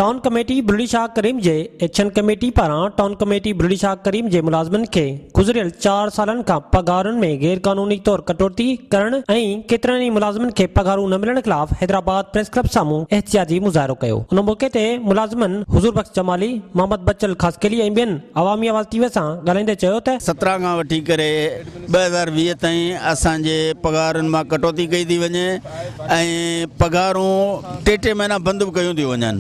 Town committee Bulri Shah Karim جي action committee پاران town committee Bulri Shah Karim جي ملازمن کي گذريل چار سالن کان پگهارن ۾ غير قانوني طور ڪٽوتي ڪرڻ ۽ ڪيترن ئي ملازمن کي پگهارون نه ملڻ خلاف حيدرآباد پريس ڪلب سامهون احتجاجي مظاهرو ڪيو ان موقعي تي ملازمن حضور بخش جمالي، محمد بچل خاصخيلي ۽ ٻين عوامي آواز ٽي وي سان ڳالهائيندي چيو ته. سترا کان وٺي ڪري ٻه هزار ويهه تائين اسان جي پگهارن مان ڪٽوتي ڪئي ٿي وڃي ۽ پگهارون ٽي ٽي مهينا بند به ڪيون ٿيون وڃن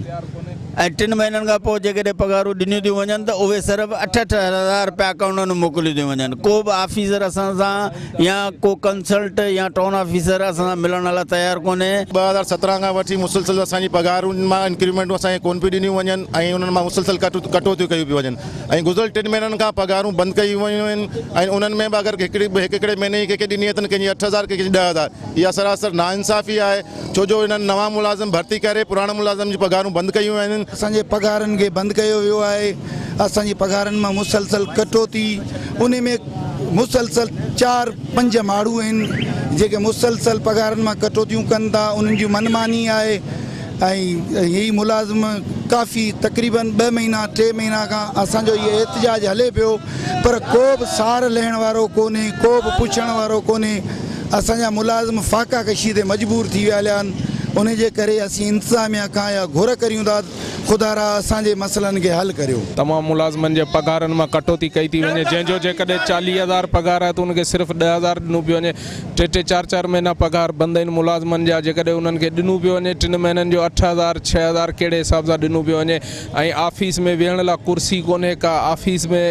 ۽ ٽن مهينن کان پوء جيڪڏهن پگهارون ڏنيون ٿيون وڃن ته اهي صرف اٺ اٺ هزار رپيا اڪائونٽن ۾ موڪليون ٿيون وڃن ڪو به آفيسر اسان سان يا ڪو ڪنسلٽ يا ٽون آفيسر اسان سان ملڻ لاء تيار ڪونهي ٻه هزار سترهن کان وٺي مسلسل اسان جي پگهارن مان انڪريمينٽون اسان کي ڪونه پيون ڏنيون وڃن ۽ انهن مان مسلسل ڪٽوتيون ڪيون پيون وڃن ۽ گذريل ٽن مهينن کان پگهارون بند ڪيون ويون آهن ۽ انهن ۾ به اگر هڪ هڪڙي مهيني جي ڪنهن کي ڏني اٿن ڪنهن جي اٺ هزار ڪنهن جي ڏهه هزار اها سراسر ناانصافي آهي ڇو جو انهن نوان ملازم ڀرتي ڪري پراڻن ملازمن جون پگهارون بند ڪيون ويون آهن. اسان جي پگهارن کي بند ڪيو ويو آهي اسان جي پگهارن مان مسلسل ڪٽوتي انهي ۾ مسلسل چار پنج ماڻهو آهن جيڪي مسلسل پگهارن مان ڪٽوتيون ڪن ٿا انهن جي من ماني آهي ۽ هي ملازم ڪافي تقريباً ٻه مهينا ٽي مهينا کان اسان جو هي احتجاج هلي پيو پر ڪو به سار لهڻ وارو ڪونهي ڪو به پڇڻ وارو ڪونهي اسان جا ملازم فاقا ڪشي تي مجبور ٿي ويا هليا آهن انهي جي ڪري اسين انتظاميا کان اها گهر ڪريون ٿا خدا را اسان جي مسئلن کي حل ڪريو. تمام ملازمن جي پگهارن مان ڪٽوتي ڪئي ٿي وڃي جنهن جو جيڪڏهن چاليهه هزار پگهار آهي ته ان کي صرف ڏهه هزار ڏنو پيو وڃي ٽي ٽي چار چار مهينا پگهار بند آهن ملازمن جا جيڪڏهن انهن کي ڏنو پيو وڃي ٽن مهينن جو اٺ هزار ڇهه هزار ڪهڙي حساب سان ڏنو پيو وڃي ۽ آفيس ۾ ويهڻ لا ڪرسي ڪونهي ڪا آفيس ۾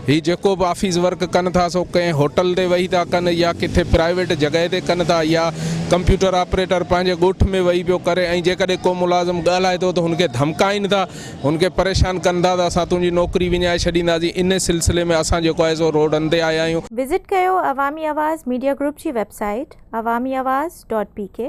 هي جيڪو به آفيس ورڪ ڪن ٿا سو ڪنهن هوٽل تي وهي ٿا ڪن يا ڪٿي پرائيويٽ جڳهه تي ڪن ٿا يا ڪمپيوٽر آپريٽر پنهنجي ڳوٺ ۾ وهي پيو ڪري ۽ جيڪڏهن ڪو ملازم ڳالهائي ٿو ته هن کي ڌمڪائين ٿا هن کي پريشان ڪن ٿا ته اسان تنهنجي نوڪري وڃائي ڇڏينداسين، انهي سلسلي ۾ اسان جيڪو آهي سو روڊن تي آيا آهيون. وزٽ ڪيو عوامي آواز ميڊيا گروپ جي website Awami Awaz dot P ڪي.